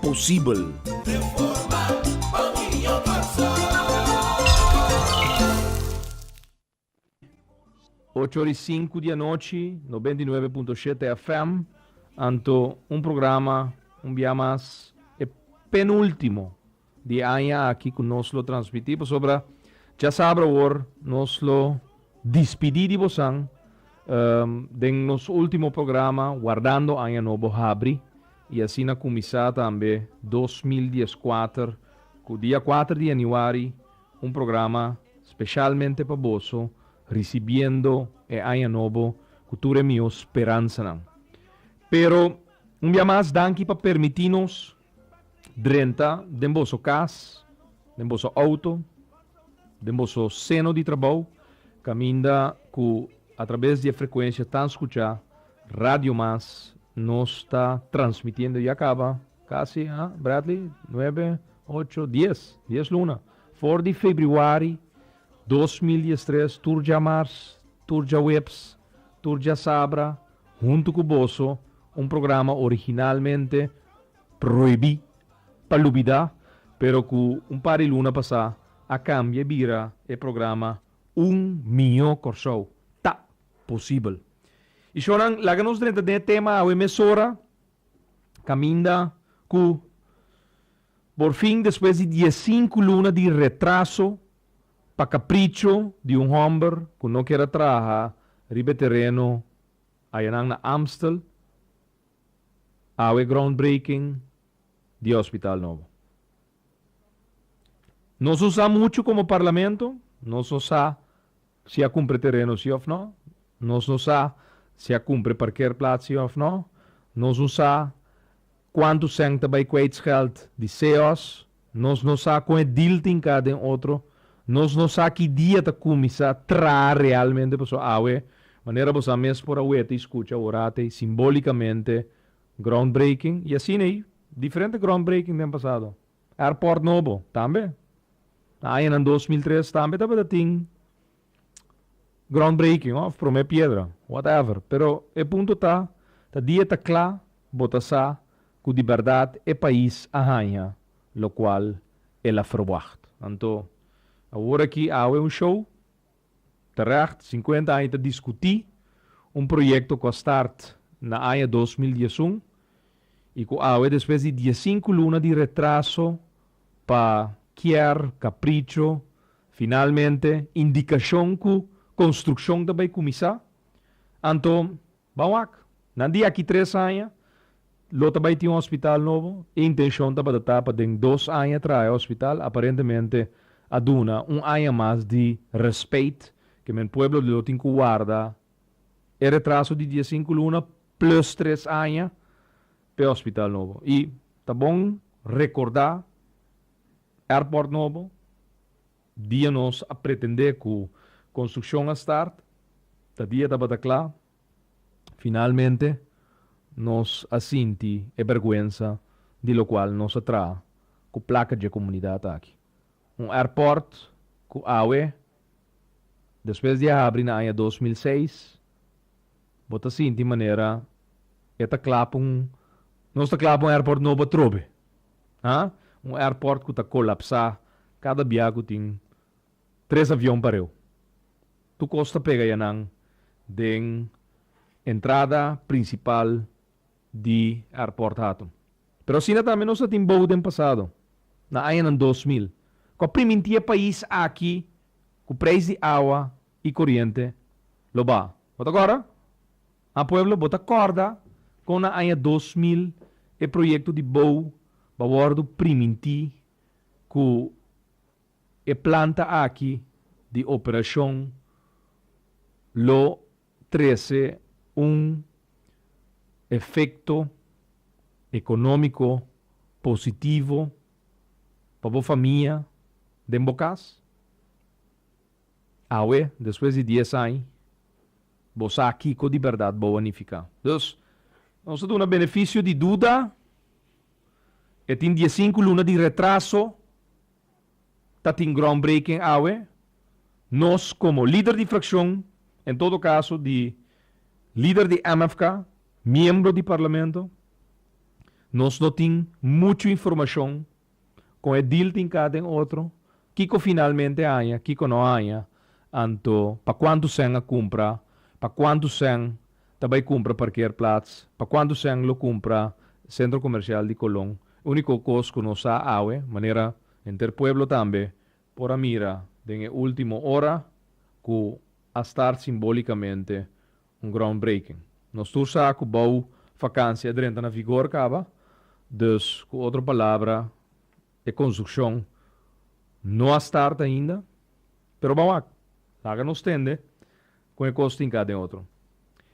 posibel. Ocho ora i sinku di anochi, nobenta i nuebe punto shete FM, anto un programa un bia mas, e penultimo Di aña aki cu nos lo transmiti, pasobra dja sabi awor nos lo dispidi di bosan den nos ultimo programa Wardando Aña Nobo Habri, y asina cuminsa tambe dos mil dies kuater cu dia kuater di januari un programa specialmente pa boso, ricibiendo e aña nobo cu tur e miho speransanan. Pero un bia mas danki pa permiti nos. drenta den boso cas, den boso auto, den boso seno di trabou, caminda cu a traves di e frecuencia tan scucha Radio Mas nos ta transmitiendo ya caba casi, ha, Bradley? Nuebe, ocho, dies, dies luna, for di Febriuari dos mil diestres tur djamarz, tur djaweps, tur djasabra, Huntu ku boso, un programa originalmente prohibí pa lubidá, pero ku un par di luna pasá a kambia i bira e programa Un Mió Kòrsou Ta Posibel. I shònan, laga nos drenta den e tema awe mesora kaminda ku Por fin, despues di diesinku luna di retraso pa kapricho di un hòmber ku no kier a traha riba e tereno ayanan na Amstel, awe groundbreaking di e hospital nobo. Nos no sa muchu komo Parlamento, nos no sa Si a cumpre tereno si of no. Nos no sa si a cumpre parkeerplaats si of no. Nos no sa cuantu cent ta bay kwijtscheld di seos. Nos no sa con e deal tin ca den otro. Nos no sa ki dia ta cuminsa traha realmente paso awe, manera bosa mes por a wete y scucha ora t'ey simbolicamente groundbreaking y asin'ey diferente groundbreaking den pasado. Airport nobo tambe. Na añanan dos mil tres tambe tabata tin groundbreaking of prome piedra, whatever. Pero e punto ta, ta di e ta cla bo ta sa cu di berdad e pais a hanja locual el a verwacht. Anto, awor aki awe un show. Terègt, sinkuenta aña ta diskutí un proyekto ku a start na aña dos mil dies un i ku awe despues di dies sinku luna di retraso pa kier, kapricho, finalmente indikashon ku konstrukshon ta bai kuminsá, anto Ban wak. Na di aki tres aña lo ta bai tin un hospital nobo. E intencion tabata ta pa den dos aña traha e hospital. Aparentemente a duna un aña mas di respeit ke men pueblo lo tin ku warda e retraso di diesinku luna plus tres aña pa e hospital nobo. I ta bon rekorda airport nobo. Dia nos a pretendé ku konstrukshon a start, ta dia tabata kla. Finalmente nos a sinti e bèrgwensa di lokual nos a traha ku plaka dje komunidat aki. Un airport ku awe despues di a habri na aña dos mil seis, bo ta sinti manera e ta kla pa un, nos ta kla pa un airport nobo atrobe. Ha? Un airport cu ta colapsa cada bia cu tin tres avion pareu. Tur cos ta pega ya nan den entrada principal di airport Hatum. Pero asina tambe nos a tin bou den pasado, na añanan dos mil, cu a priminti e pais aki cu prijs di awa y coriente lo baha. Bo ta corda? Ha pueblo bo ta kòrda kon na aña dos mil e proyekto di bou ba wòrdu primintí ku e planta aki di operashon lo trese un efekto ekonómiko positivo pa bo famia den bo kas? Awe, despues di dies añ, bo sa kiko di bèrdat bo a nifiká. Dus, nos a duna benefisio di duda, e tin diesinku luna di retraso, ta tin groundbreaking awe, nos komo lider di frakshon, en todo kaso di lider di MFK, miembro di parlamento, nos no tin muchu informashon Con e deal tin ca den otro? Kico finalmente haña, kico no haña? Anto pa cuanto sèn a cumpra? Pa cuanto sèn ta bay cumpra parkeerplaats? Pa cuanto sèn lo cumpra Centro Comercial di Colón? Unico cos cu nos sa awe, manera henter pueblo tambe, Por a mira den e ultimo ora cu a start simbolicamente un groundbreaking. Nos tur sa cu bao vacancia e drenta na vigor caba, dus cu otro palabra e construccion no a start ainda. Pero ban wak, laga nos tende con e cos tin ca den otro.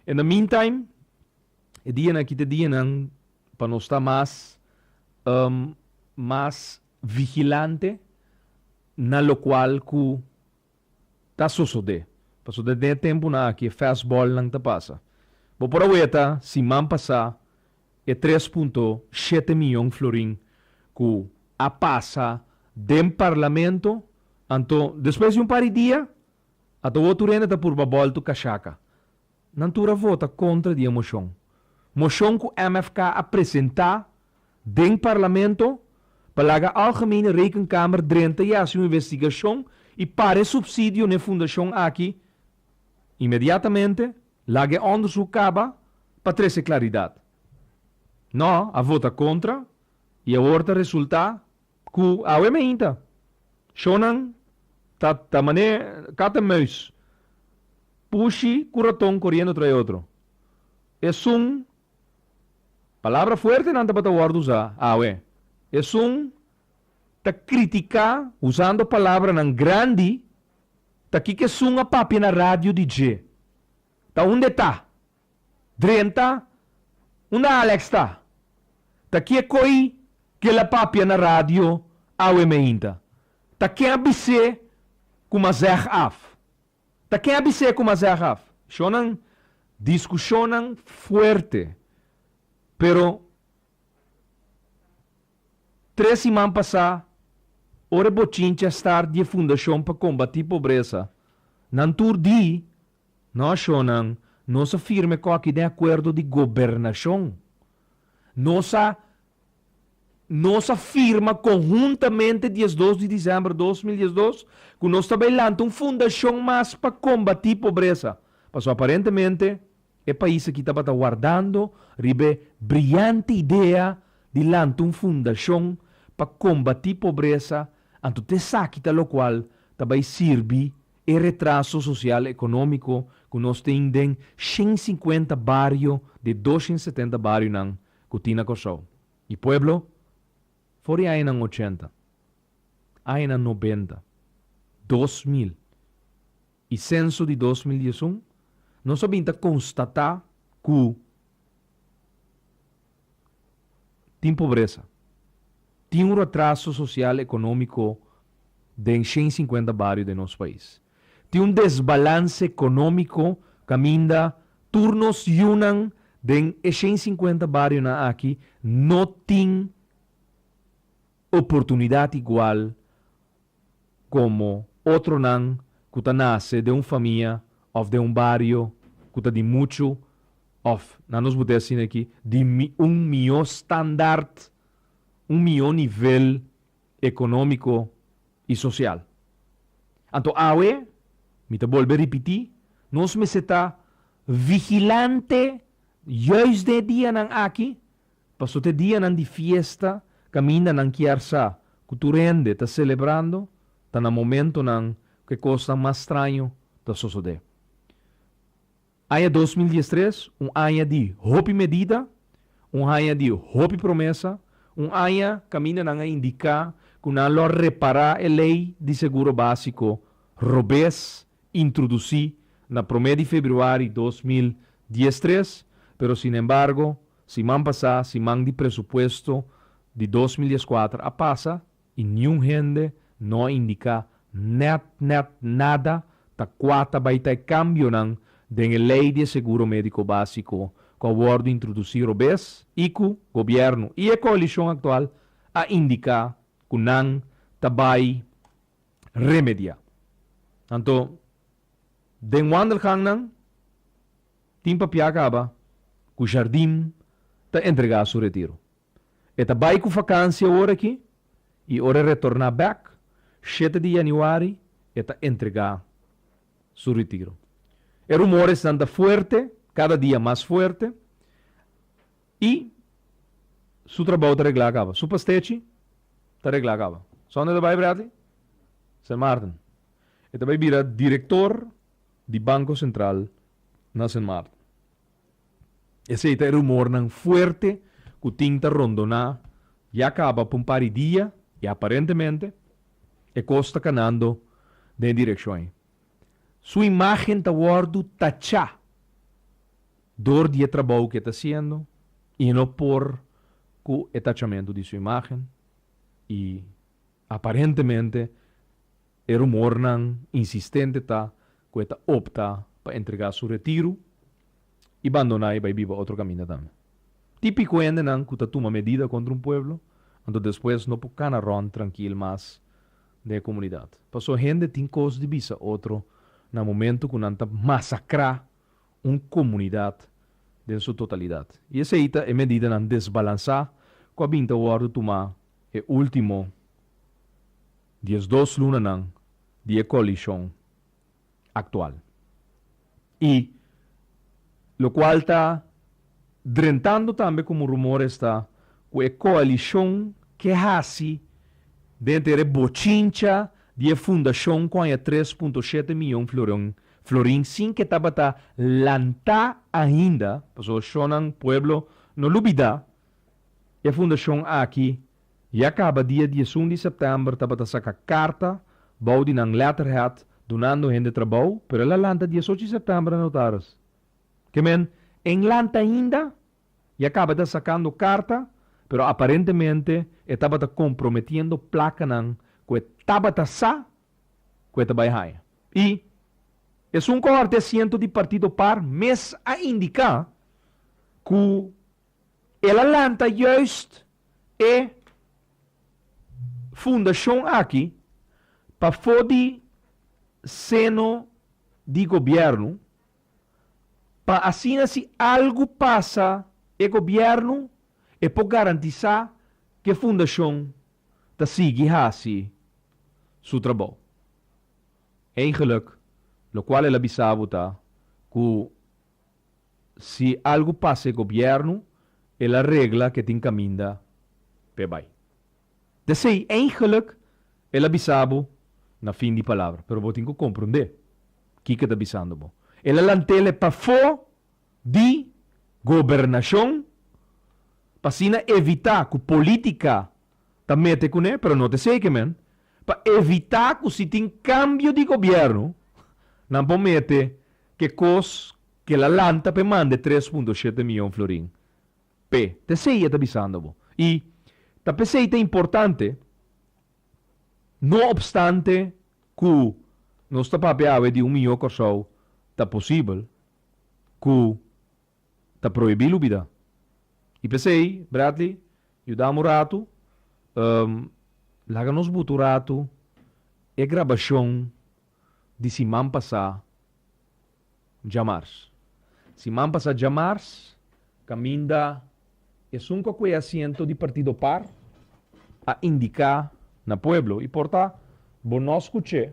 In the meantime, e dianan aki ta e dianan pa nos ta mas mas vigilante na lokual ku ta sosodé. Pasobra den e tempunan aki e fèstbòlnan ta pasa. Bo por a weta siman pasá e tres punto shete mion florin ku a pasa den parlamento, anto despues di un par di dia a ta wotu rende ta purba bòltu kashaka. Nan tur a vota kontra di e moshon. Moshon ku MFK a presentá den parlamento pa laga Algemene Rekenkamer drenta i hasi un investigashon i para e supsidio n'e fundashon aki inmediatamente, laga e òndersuk kaba pa trese klaridat. Nò a vota kontra i awor ta resultá Ku awe mainta shownan ta ta mané kat en muis, pushi ku raton koriendo trae otro. Esun palabra fuertenan tabata wòrdu usá awe. Esun ta kritiká usando palabranan grandi ta kiko esun a papia na radio di dje. Ta und'e ta? Drenta, unda Alex ta? Ta kie koi kel a papia na radio awe meinta? Ta ken a bis'é ku m'a zeg af? Ta ken a bis'é ku m'a zeg af? Shonnan diskushonnan fuerte, pero tres siman pasá ora e bochincha start di e Fundashon pa Kombatí Pobresa, nan tur di Nashonnan, nos a firme koki den akuerdo di gobernashon. Nos a Nos a firma konhuntamente diesdos di disember dos mil diesdos ku nos ta bai lanta un fundashon mas pa kombatí pobresa, paso aparentemente e pais aki tabata wardando riba e briante idea di lanta un fundashon pa kombatí pobresa, anto ta esaki ta lokual ta bai sirbi E retraso sosial ekonómiko ku nos tin den shen sinkuenta bario de doshen setenta barionan ku tin na Kòrsou i Pueblo for di añanan ochenta, añanan nobenta, dos mil i senso di dos mil diesun nos a bin ta konstatá ku, tin pobresa. Tin un retraso sosial ekonómiko den shen sinkuenta bario den nos pais. Tin un desbalans ekonómiko kaminda tur nos yunan den e shen sinkuenta barionan aki no tin oportunidat igual komo otronan ku ta nase den un famia òf den un bario ku ta di muchu òf, nan nos bot'e asina aki, di un mihó standart, un mihó nivel ekonómiko i sosial. Anto awe, mi ta bolbe ripití, nos mester ta vigilante yùis den e dianan aki, Paso t'e dianan di fiesta kaminda nan kier sa ku tur hende ta selebrando, ta na momentonan ku e kosnan mas straño ta sosodé. Aña dos mil dies tres, un aña di hopi medida, un aña di hopi promesa, un aña kaminda nan a indiká ku nan lo a repará e lei di seguro básiko robes introdusí na promé di februari dos mil dies tres, pero sin embargo siman pasá siman di presupuesto di dos mil dies kuater a pasa i niun hende no a indiká nèt nèt nada ta kua ta bai ta e kambionan den e lei di e seguro médiko básiko ku a wòrdu introdusí robes i ku gobièrnu i e koalishon aktual a indiká ku nan ta bai remediá. Anto den wandelgangnan tin pa pia kaba ku Jardim ta entregá su retiro. E ta bai ku vakansia ora aki i ora e retorná bèk shete di yanüari e ta entregá su retiro. E rumoresnan ta fuerte, kada dia mas fuerte. I su trabou ta reglá kaba. Su pastechi ta reglá kaba. Sònde e ta bai, Bradley? Sen Maarten. E ta bai bira direktor di Banko Sentral na Sen Maarten. Esei ta e rumornan fuerte ku tin ta rondoná ya kaba pa un par di dia i aparentemente e kos ta kanando den e direkshon ei. Su imágen ta wòrdu tachá Dor di e trabou ku e ta hasiendo, i no por ku e tachamentu di su imágen, i aparentemente e rumornan insistente ta ku e ta opta pa entregá su retiru i bandoná i bai biba otro kaminda tambe. Típiko hendenan ku ta tuma medida kontra un pueblo, anto despues no por kana rònt trankil mas den e komunidat. Pasó hende tin kos di bisa otro na momentu ku nan ta masakrá un komunidat den su totalidat. I esei ta e medidanan desbalansá ku a bin ta wòrdu tumá e último diesdos lunanan di e koalishon aktual i lokual ta Drentando tambe komo rumor esta ku e koalishon ke hasi den ter e bochincha di e fundashon ku haña tres punto shete miyon floron florin sin ke tabata lantá ainda, paso shonnan pueblo no lo bida e fundashon aki ya kaba dia diesun di sèptèmber tabata saka karta bou di nan letterhead dunando hende trabou pero el a lanta diesochi di sèptèmber anotaris. Kemen, Engeland ainda ya cabata sacando carta, pero aparentemente e tabata comprometiendo placanan cu e tabata sa cu e ta bay haya. Y, esun cohort di asiento di partido par mes a indica cu el a lanta juist e fundacion aki pafo di seno di gobierno, pa asina si algu pasa e gobièrnu e por garantisá ku e fundashon ta sigui hasi su trabou. Eindgeluk lokual el a bisa bo ta ku si algu pasa e gobièrnu el a regla ke tin kaminda p'e bai. Te sei, eigenlik, el a bisa bo na fin di palabra, pero bo tin ku komprondé kiko e ta bisando bo. El a lantele pafó di gobernashon pa asina evitá ku polítika ta mete kuné, pero no te sei ke men, pa evitá ku si tin kambio di gobièrnu nan por mete ke kos ke el a lanta pa e manda e tres punto shete miyon florin P, P'esei e ta bisando bo. I, Ta p'esei ta importante, no opstante ku nos ta papia awe di un mihó Kòrsou, ta posibel ku ta prohibí lubidá. I p'esei, Bradley, yudami un ratu, laga nos buta un ratu e grabashon di siman pasá. Djamars. Siman pasa djamars kaminda esun kokoe asiento di partido par a indiká na pueblo i por ta bo no skuch'é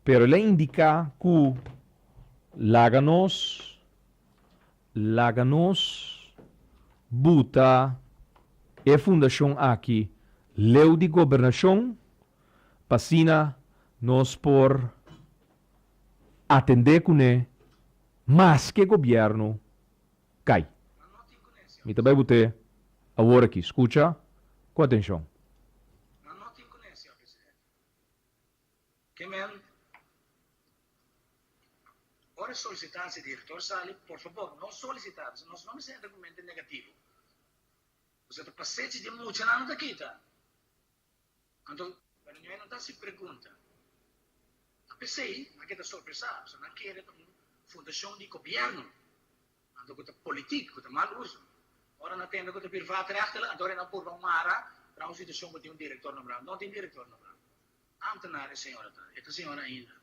pero el a indiká ku laga nos laga nos buta e fundashon aki leu di gobernashon pa asina nos por atendé kuné maske gobièrnu kai. Mi ta bai bo te awor aki, skucha ku atenshon. Anto, cuando mi maynan ta haci pregunta, ta p'esey nan keda sorpresá, pasobra nan kere ta un fundacion di gobierno, anto cu ta politiek, cu ta mal uso. Ora nan tende cu ta bir waterrechten, anto ora e nan purba mara na un situacion cu tin un director nombrá. No tin director nombrá. Ambtenaar e señora ta, e ta señora ainda.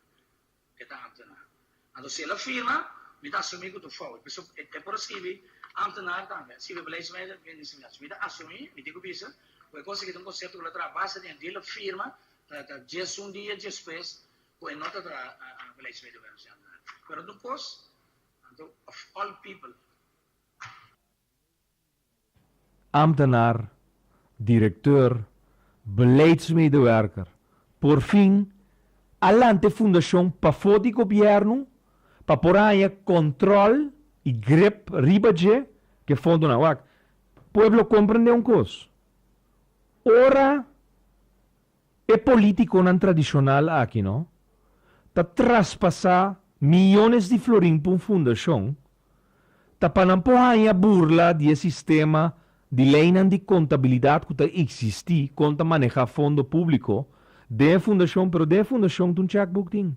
e ta ambtenaar. Anto si el a firma, mi ta asumí ku ta un fout, p'esei e por a skibi ambtenaar tambe, a skibi beleidsmeider, minister-generaal. Mi ta asumí, mi tin ku bisa, ku e kos aki ta un konsepto ku lo traha base den di el a firma, ta ta dies un dia diespues ku e no ta traha beleidsmeiderwerf, ni ambtenaar. Pero anto un kos, anto of all people. Ambtenaar, Directeur, Beleidsmedewerker, Porfin, a lanta e fundashon pafó di gobièrnu pa por haña kòntròl i grep riba dje ke fondonan. Wak, pueblo komprendé un kos, ora E politiconan tradicional aki no ta traspasa miyones di florin pa un fundacion ta pa nan por hanja burla di e sistema di leynan di contabilidad cu ta existi con ta maneha fondo publico den e fundacion pero den e fundacion ta un checkbook tin.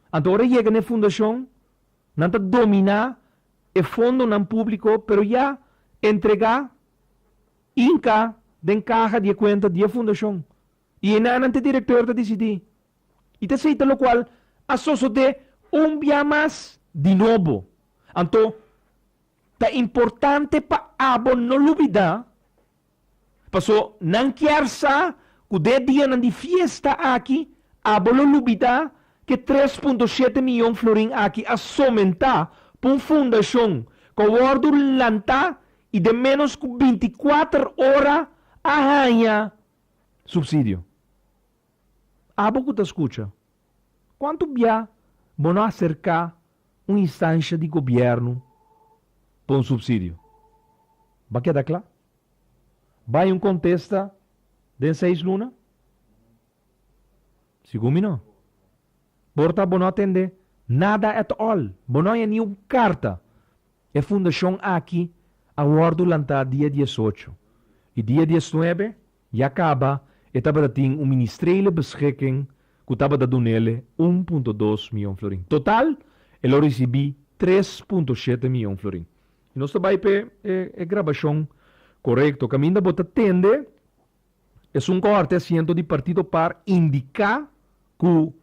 Anto ora yega n'e fundacion nan ta domina e fondonan publico pero ya entrega Inca den kaha di e kuenta di e fundashon i enanan te direktor ta disidí i ta seita lokual a sosodé un bia mas di nobo. Anto ta importante pa abo no lubidá paso nan kier sa ku den e dianan di fiesta aki abo lo lubidá ku e tres punto shete miyon florin aki a somentá pa un fundashon ku a wòrdu lantá i den ménos ku binti kuater ora a haña supsidio. Abo ku ta skucha, kuantu bia bo no aserká un instansha di gobièrnu pa un supsidio? Ba keda kla? Bai un kontesta den seis luna? Segun mi no. Por ta bo no tende nada at all, bo no haña ni un carta. E fundacion aki a wordo lanta dia diesocho y dia diesnuebe ya caba e tabata tin un ministrele beschikking cu tabata dunele un punto dos mion florin. Total e lo ricibi tres punto shete mion florin. Y nos ta bay pe e grabacion corecto. Caminda bo ta tende. Esun kòrte asiento di partido par indiká ku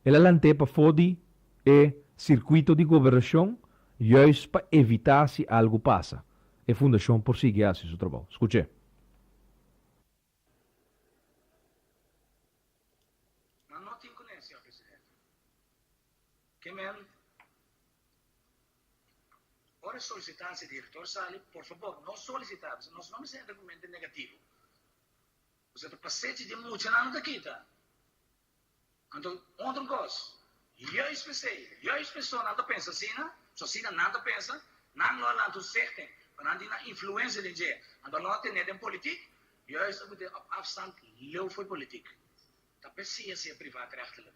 el a lant'é pafó di e sirkuito di gobernashon yùis pa evitá si algu pasa, e fundashon por sigui hasi su trabou. Skuch'é. Ora e solicitansi di Director sali, por fabor no solicita p'esei nos no mester argumento negativo. P'esei ta pasechi di mucha nan lo ta kita. Anto unda un cos, juist p'esei, juist p'eso nan ta pensa asina, su asina nan ta pensa, nan lo a lanta un segten, pa nan tin nan influencia den dje, anto lo a tene den politic, juist ocude op afstand leu fo'i politic. Ta p'esei asina privatrechtelijk.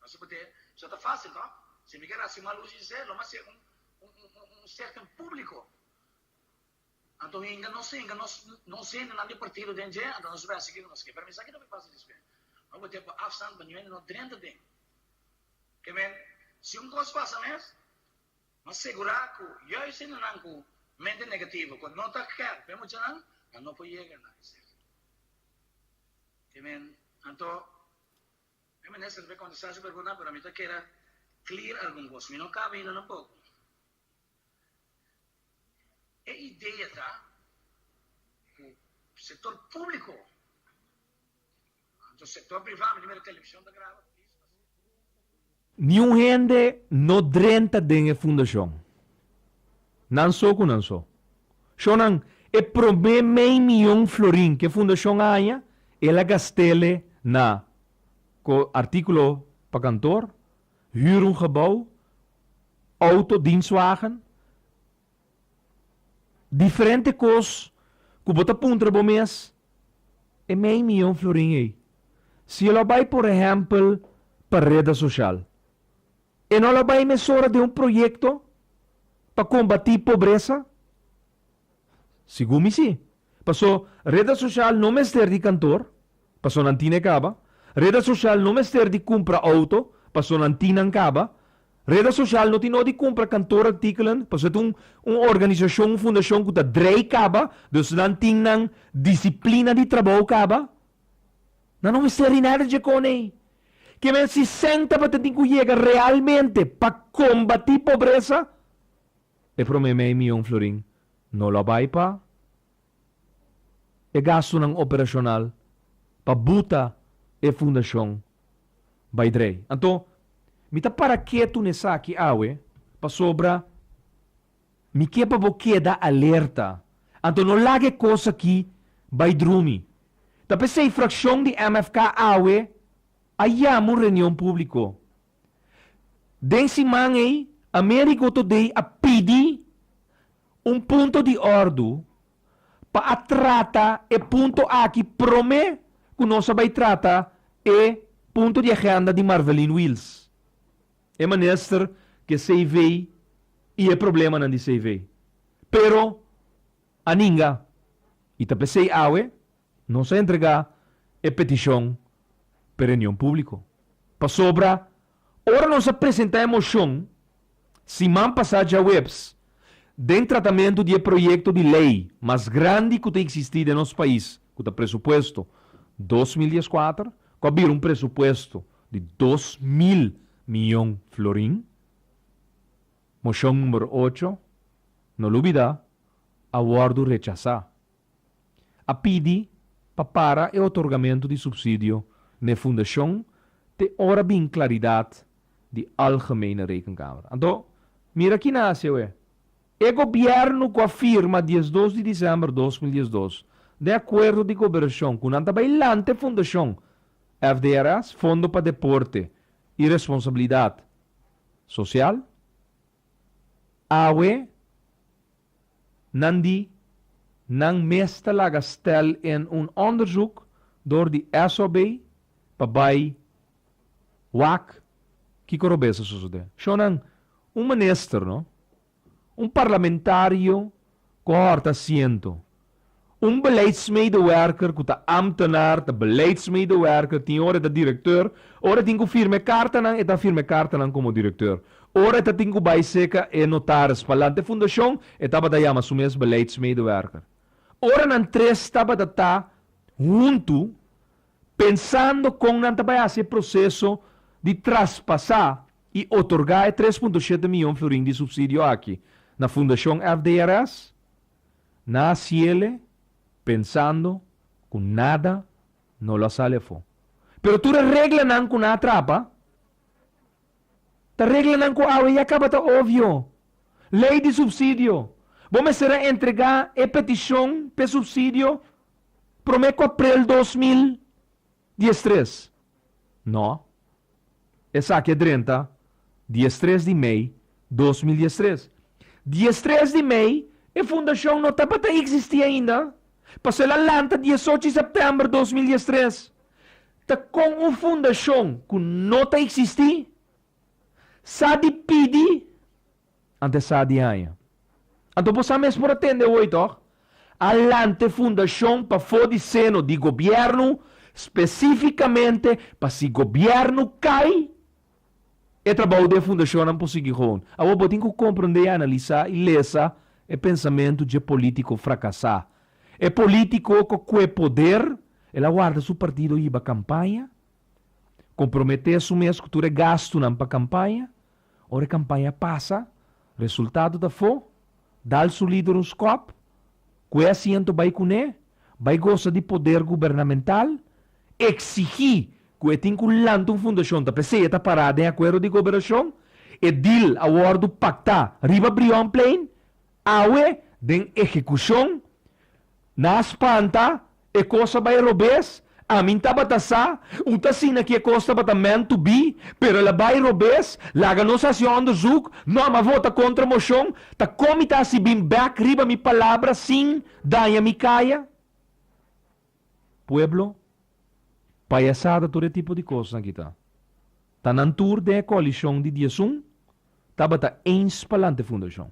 No se p'e so ta fásil no. Si mi ker hasi mal uso di se, lo mas ser un un serken públiko. Anto hinka nos hinka nos nos hendenan di partido den dje, anto nos wèsi kiko nos ke. Pero mi sa kiko mi pasa despé. No bo tempu afsant pa ñuende no drenta den. Ke men, si un kos pasa mes, m'a segurá ku juis hendenan ku mente negativo, ku no ta kèr p'e muchanan, nan no por yega na esaki. Ke men, anto Mi minister ta contesta su pregunta pero mi ta kere clear algun cos. Mi no caba hino tampoco. E idea ta cu sector publico anto sector priva mi ta mira television ta graba please. Niun hende no drenta den e fundashon. Nan so ku nan so. Shonnan, e promé mei mion florin ku e fundashon a haña, el a gast'e na ko artíkulo pa kantor, hür un gebou, outo, dienstwagen. Diferente kos ku bo ta puntra bo mes, E mei miyon florin ei, si e lo bai por ehèmpel pa reda soshal, e no lo bai mesora den un proyekto pa kombatí pobresa? Sigun mi sí. Paso, reda sosial no mester di kantor, paso nan tine kaba. Reda sosial no mester di kumpra outo, paso nan tin nan kaba. Reda sosial no tin no di kumpra kantorartikelen, paso e ta un un organisashon, un fundashon ku ta drei kaba, dus nan tin nan disiplina di trabou kaba. Nan no mester di nada dje konen ei. Ke men sesenta paten tin ku yega realmente pa kombatí pobresa? E promé mei mion florin no lo a bai pa e gastunan operashonal pa buta e fundashon bai drei. Anto mi ta para ketu na esaki awe pasobra mi ke pa bo keda alerta. Anto no laga e kos aki bai drumi. Ta p'esei frakshon di MFK awe a yama un reunion públiko. Den siman ei Amerigo Today a pidi un punto di ordu pa a trata e punto aki prome ku nos a bai trata e punto di agenda di Marvelin Wils, e minister di e CV i e problemanan di CV. Pero a ninga i ta p'esei awe Nos a entregá e petishon p'e reunion públiko. Pasobra ora nos a presentá e moshon siman pasá djaweps den tratamentu di e proyekto di lei mas grandi ku ta eksistí den nos pais ku ta presupuesto dos mil dies kuater ku a bira un presupuesto di dos mil miyon florin, moshon numero ocho, no lo bida, a wòrdu rechasá. a pidi pa para e otorgamentu di supsidio na e fundashon te ora bin klaridat di Algemene Rekenkamer. Anto, mira kina hasi awe. E gobièrnu ku a firma diesdos di disèmber dos mil diesdos den akuerdo di koberashon ku nan ta bai lante fundashon FDRS, Fondo pa Deporte i Responsabilidat Sosial, Awe nan di nan mes ta laga stel in un onderzoek door di SOB pa bai wak kiko robes a sosode. Shonnan, un minister no, un parlamentario Kohorta siento. Un beleidsmedewerker ku ta ámtenaar ta beleidsmedewerker, tin ora e ta direkteur. Ora e tin ku firma e kartanan, e ta firma e kartanan komo direkteur. Ora e ta tin ku bai seka e notaris pa lanta e fundashon, e tabata yama su mes beleidsmedewerker. Ora nan tres tabata ta huntu, Pensando kon nan ta bai hasi e proseso di traspasá i otorgá e tres punto shete mion florin di supsidio aki na Fundashon FDRS? Nan a siele pensando ku nada no lo a sali afó. Pero tur e reglanan ku nan a trapa ta reglanan ku awe ya kaba ta obvio. Lei di supsidio. Bo mester a entregá e petishon p'e supsidio. promé ku aprel dos mil dies tres. Nò, esaki a drenta dies tres di mei dos mil dies tres. Dies tres di mei e fundashon no tabata eksistí ainda, paso el a lanta dies ocho di sèptèmber dos mil dies tres. Ta kon un fundashon ku no ta eksistí sa di pidi? Antes sa di aña. Anto bo sa mes por a tende hoy toch? A lante fundacion pafo di seno di gobierno specificamente pa si gobierno cay e trabaho di e fundacionnan por sigui gewoon. Awor bo tin cu comprende y analisa y lesa e pensamento dje politico fracasa. E politico cu cue poder el a warda su partido hiba campaña, compromete su mes cu tur e gastunan pa campaña. Ora e kampaña pasa, resultado ta fo, dal su lider un skòp, kue asiento bai kuné, bai gosa di poder gubernamental, eksigí ku e tin ku lanta un fundashon ta p'esei e ta pará den akuerdo di goberashon, e dil a wòrdu paktá riba Brionplein, Awe den ehekushon, na a spanta, e kos a bai robes, amin tabata sa, u ta asina ki e kos tabata meant to be, pero el a bai robes, laga nos hasi un onderzoek, no mi a vota kontra moshon, ta kon mi ta hasi bin bek riba mi palabra sin daña mi kaya? Pueblo, payasada tur e tipo di kosnan kita. Ta nan tur den e koalishon di diesun tabata eens pa lanta e fundashon.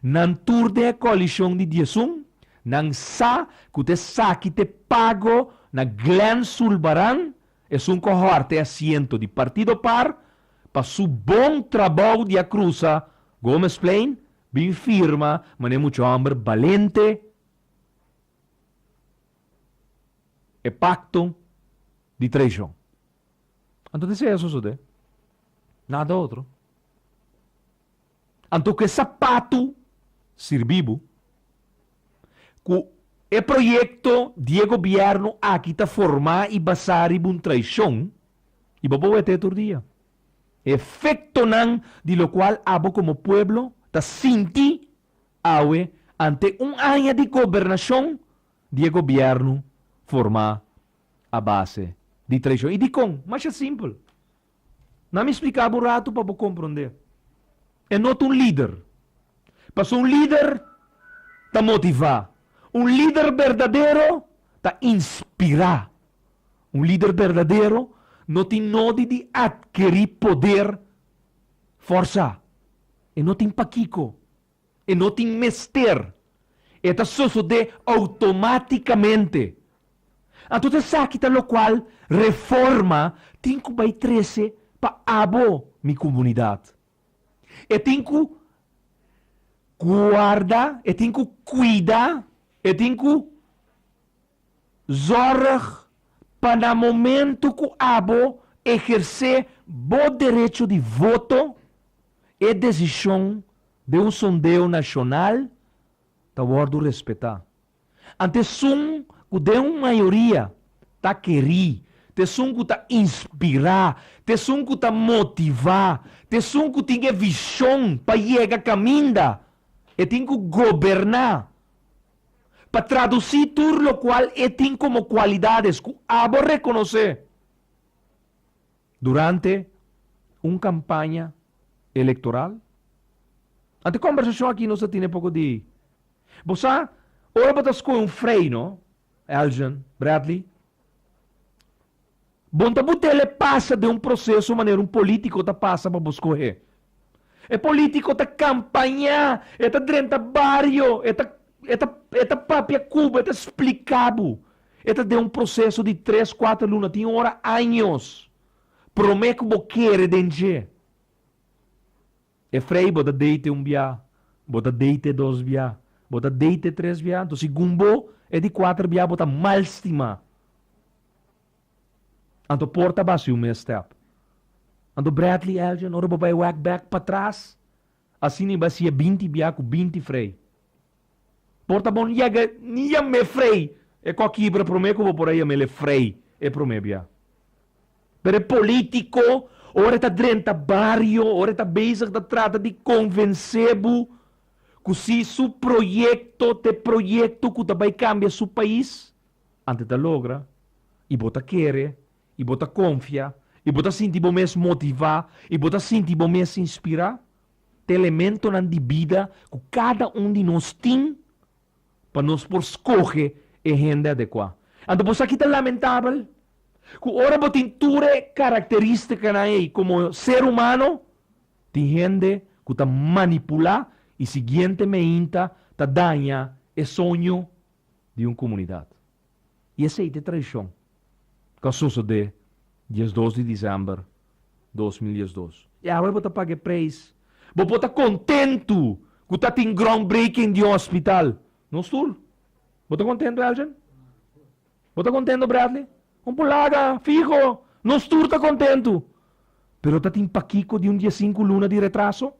Nan tur den e koalishon di diesun nan sa ku ta esaki ta e pago na Glen Zulbarán esun kohorte asiento di Partido Par pa su bon trabou di a krusa Gomesplein bin firma manera e mucha hòmber balente e pakto di traishon. Anto di sea sosode, nada otro. Anto ku e sapatu sirbi bo ku e proyekto di e gobièrnu aki ta formá i basá riba un traishon, i bo por wete tur dia e efektonan di lokual abo komo pueblo ta sinti awe ante un aña di gobernashon di e gobièrnu formá a base di traishon. I dikon? Masha simpel. Nan mi spliká bo un ratu pa bo komprondé. E no ta un lider. Pasobra un lider ta motivá. Un lider berdadero ta inspirá. Un lider berdadero no tin nodi di atkerí poder fòrsa. E no tin pakiko. E no tin mester. E ta sosodé outomátikamente. Anto esaki ta lokual Reforma tin ku bai trese pa abo mi komunidat. E tin ku guarda, e tin ku kuida, e tin ku zòrg pa na momentu ku abo ehersé bo derecho di voto, E desishon den un sondeo nashonal ta wòrdu respetá. Ant esun ku den un mayoria ta kerí, t'esun ku ta inspirá, t'esun ku ta motivá, t'esun ku tin e vishon pa yega kaminda e tin ku goberná, pa tradusí tur lokual e tin komo kualidades ku abo rekonosé. Durante un kampaña elektoral? Ant e kombersashon aki nos a tine poko di, Bo sa, ora bo ta skohe un frei, no? Eljan, Bradley, Bon ta bu telepasa den un proseso manera un polítiko ta pasa pa bo skohe. E polítiko ta kampañá, e ta drenta bario, e ta, e ta, e ta papia ku bo, e ta spliká bo E ta den un proseso di tres, kuater luna, tin ora años, promé ku bo kere den dje. E frei bo ta deite un bia, bo ta deite dos bia, bo ta deite tres bia, anto segun bo e di kuater bia bo ta mal stimá. Anto por ta basi un mes stèp. Anto Bradley Elgin, ora bo bai wèk bèk patras, Asina i basia binti bia ku binti frei. Por ta bon yega ni yam'é frei. E kòkibra promé ku bo por a yam'el e frei e promé bia. Pero e polítiko ora e ta drenta bario, ora e ta bezig ta trata di konvensé bo ku si su proyekto ta e proyekto ku ta bai kambia su pais, antes ta logra i bo ta kere i bo ta konfia i bo ta sinti bo mes motivá i bo ta sinti bo mes inspirá? Ta e elementonan di bida ku kada un di nos tin pa nos por skohe e hende adekuá. Anto bo sa ki ta lamentabel ku ora bo tin tur e karakteristikanan ei komo ser humano, tin hende ku ta manipulá i siguiente meinta ta daña e soño di un komunidat? i esei ta e traishon ku a sosodé diesdos di disember dos mil diesdos. I awor bo ta paga e preis. Bo por ta kontentu ku ta tin groundbreaking di un ospital nos tur. Bo ta kontentu, Elgin? Bo ta kontentu, Bradley? Un pulada fiho nos tur ta kontentu. Pero ta tin pakiko di un diesinku luna di retraso?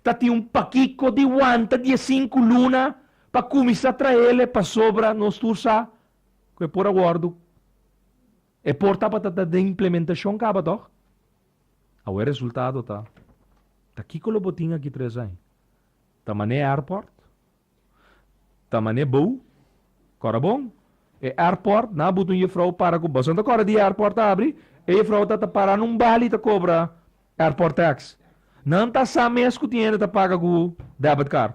ta tin un pakico di wanta di e sinku luna pa cuminsa traele pasobra nos tur sa cu e por a wordo. E por tabata ta den implementacion caba toch? Awe e resultado ta, ta kico lo bo tin aki tres ai? Ta Mané Airport? Ta mane bou kora bon e airport na butu un jefrou para ku bos anta kora di airport ta abri e jefrou ta ta para na un bali ta kobra airport tax nan ta sa mes ku tin hende ta paga ku debit card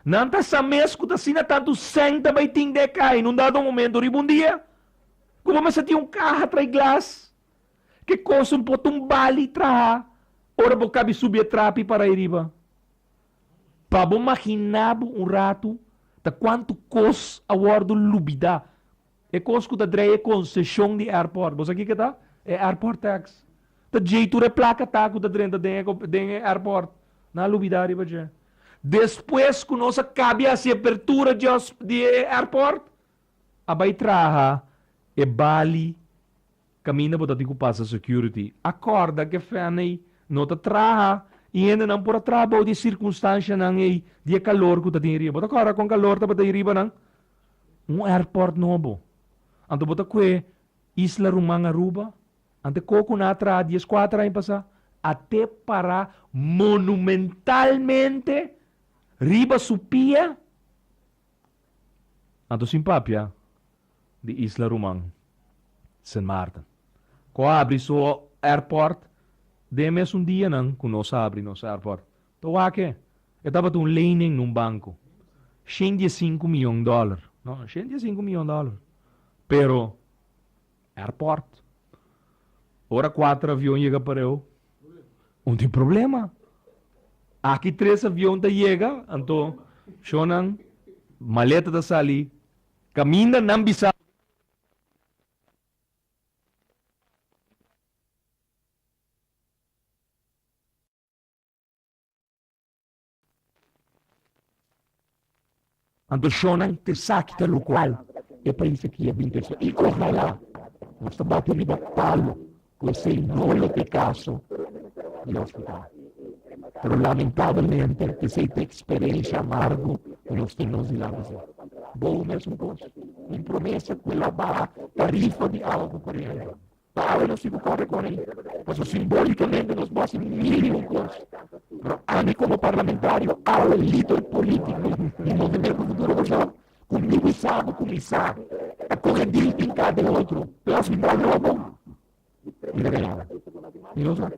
nan ta sa mes ku ta asina tantu sèn ta bai tin den e kai na un dado momento riba un dia ku bo mester tin un kaha trai glas ke kos un poton bali traha ora bo kabi subi e trapi para ahi riba Pa bo maginá bo un ratu ta kuantu kos a wòrdu lubidá. E kos ku ta dreia e konseshon di èrpòrt. Bo sa kiko ta? E èrpòrt tèks. Ta djei tur e plaka ta ku ta drenta den e èrpòrt. Nan a lubidá riba dje. Despues ku nos a kabi hasi e apertura di e èrpòrt, a bai traha e bali Caminda bo ta tin cu pasa security. A corda cu e fren ey no ta traha y hendenan por a traha bao di e circunstancianan ey di e calor cu ta tin ayriba. Bo ta corda con calor tabata ayriba nan? Un airport nobo. Anto bo ta cue Isla Ruman Aruba? Anto e coco nan a traha dies cuater aña pasa? A te para monumentalmente riba su pia? Anto sin papia di isla ruman Sint Maarten ku a abri su airport den e mesun dianan ku nos a abri nos airport ta wak-e. E tabata un lening na un banku, shentdiesinku miyon dòler, no, shentdiesinku miyon dòler, pero Airport. Ora kuater avion yega Pareu, un tin problema. Aki tres avion ta yega, anto shonnan, maleta ta sali kaminda nan bisa. Anto shonnan ta esaki ta lokual e país aki a bin ta esaki. I ohalá nos ta bati riba palu ku esei no lo ta e kaso di hospital. Pero lamentabelmente esei ta e eksperensha amargu ku nos tin nos di lanta esei. Bo mesmu kos, tin promesa ku e lo baha tarifa di awa ku koriente. pa awe nos tin ku kore kore pasobra simbólikamente nos basa un mínimo di kos. Pero ami komo parlamentario, awe lider polítiko di Movimiento Futuro Kòrsou, ku mi ku sa ku kuminsá ta kohe dil tin kar den otro plas mi bra di robo, mi ta keda awe. Mi no sa.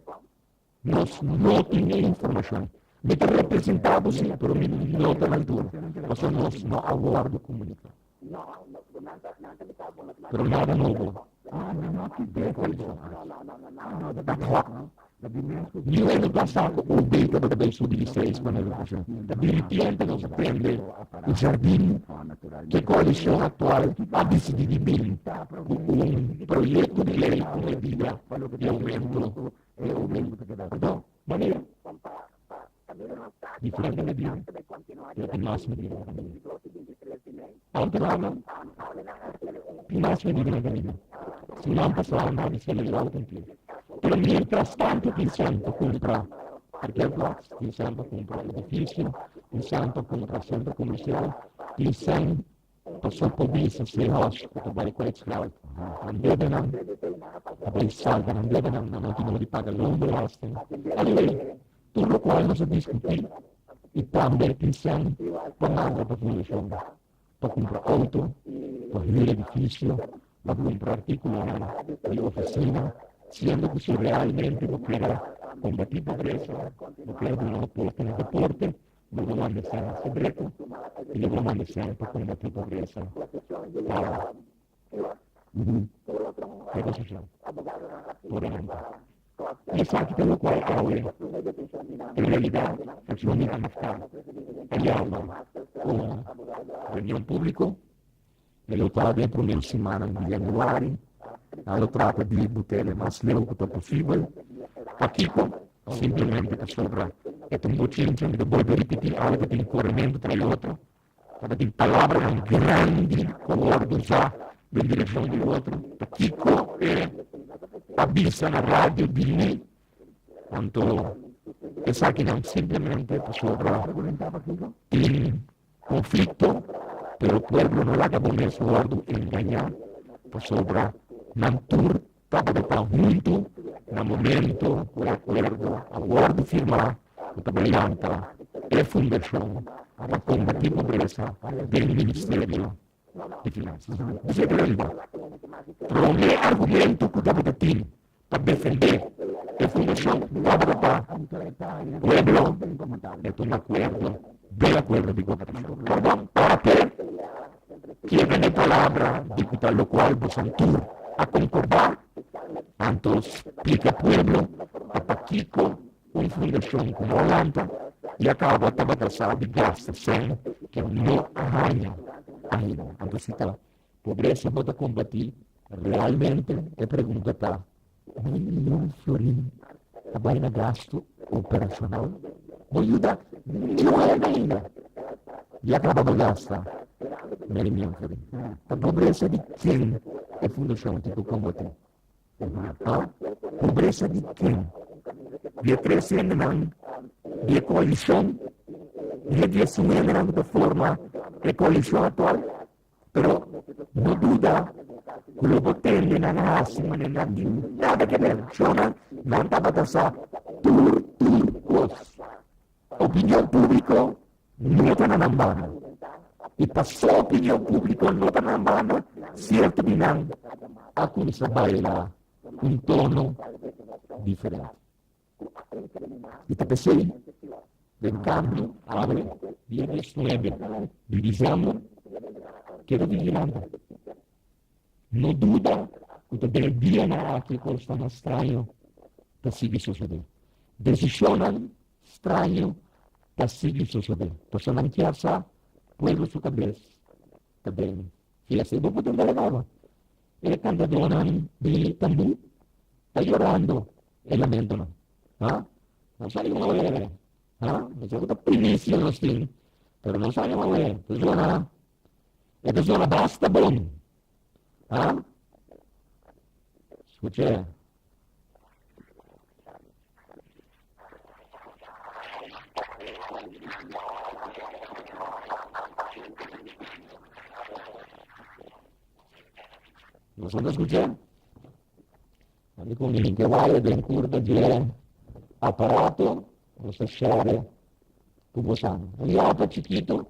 Nos no tin e informacion. Mi ta representa bo si, pero mi no ta na altura, pasobra nos no a wordo comunica. Pero nada nobo. Mi wende pasa cu OB tabata bay subi di seis pa na educacion. Ta bini tiempo nos prende cu jardin que coalición actual a dicidi di bini cu un proyecto di ley cu medida di aumento E ey mismo ta keda ku bo. Manera. Kon pa pa kamina mas tardi. Di frente na dia. Tabey kontinua di lado. Mas na dia. Di dos i binti tres di mei. Altu lama. Am hawla nan a hasiendo un. Di mas feliz di nan kamina. Si nan pasa un hòbi solo di lado kontigo. Di kaso. Pero mientras tanto kinse'an pa kumpra parkea plats, kinse'an pa kumpra edifisio, kinse'an pa kumpra sentro komersial, kinse'an. Pasobra e bisa si e hoshi ku ta bai ku e esklavo, Nan debe nan, ta bai salba, nan debe nan, nan no tin oca di paga loon di ròsten. Anyway, tur lokual nos a diskutí i tambe e tin sèn pamanta pa fundashon, pa kumpra outo, pa hür edifisio, pa kumpra artíkulonan di ofisina, siendo ku si realmente bo kere kombatí pobresa, bo kere duna aporte na deporte, Di un Organisasyon Sekreto i di un Organisasyon pa Kombati Pobresa pa un Negosiashon por Renta. Esaki ta lokual awe en realidat Fraksyon Minta Hafta a yama un reunion públiko. E lo ta den primer semana di yanüari. Nan lo trata di butele mas leu ku ta posibel. Pa kiko? Simplemente pasobra e ta un bochinchi di bolbe ripití algu ku tin koramentu tra e otro. Tabatin palabranan grandi ku a wòrdu usá den direkshon di otro. Pa kiko e ta bisa na radio di mi? Anto esakinan simplemente pasobra tin. Konflikto, pero pueblo no laga bo mes wòrdu engañá pasobra nan tur tabata ta huntu na momento ku e akuerdo a wòrdu firmá ku ta bayanta e fundashon a ta kombatí pobresa den ministerio Prome argumento cu tabata tin pa defende e fundacion tabata pa pueblo e tuma acuerdo den acuerdo di gobernacion. Perdon, parte kier vende palabra di cu ta locual boso tur a concorda, anto splica pueblo pakico Un fundashon ku no lanta i a kaba ta batasá di gastu sèn ku no a haña ainda. Anto si ta pobresa bo ta kombatí realmente? E pregunta ta, Mi niun florin a bai na gastu operashonal? No yuda niun hende ainda i a kaba bo gasta meri niun florin? Ta pobresa di ken e fundashon tin ku kombatí? Mata pobresa di ken? Di e tres hendenan, di e koalishon i di e sin hendenan ku ta forma e koalishon aktual. Pero no duda ku lo bo tende nan a hasi manera nan tin nada ke der. Shornan nan tabata sa tur tur kos. Opinion públiko Meta na nan banda i pa su opinion publico no ta nan banda cierto di nan a cuminsa baila cu un tono diferente. I ta pesey den cambio awe dia dies nuebe di diciember keda tin hinanta No duda ku ta den e dianan aki kosnan straño ta sigui sosodé. Desishonnan straño ta sigui sosodé. Personanan kier sa pueblo su kabes ta den fiesta. I bo por tende agoba e kantadónan di tambú ta yorando e lamentonan. Ha? Nos a yuma wé. Ha? Esaki ta primicia nos tin, pero nos a yuma wé. Pues, Juana. E persona basta bon. Ha? Scuch'é. Nos no ta scuch'é? Ami con mi que vaya den curta de aparato, nos ta share cu bosan. Un yapa chiquito,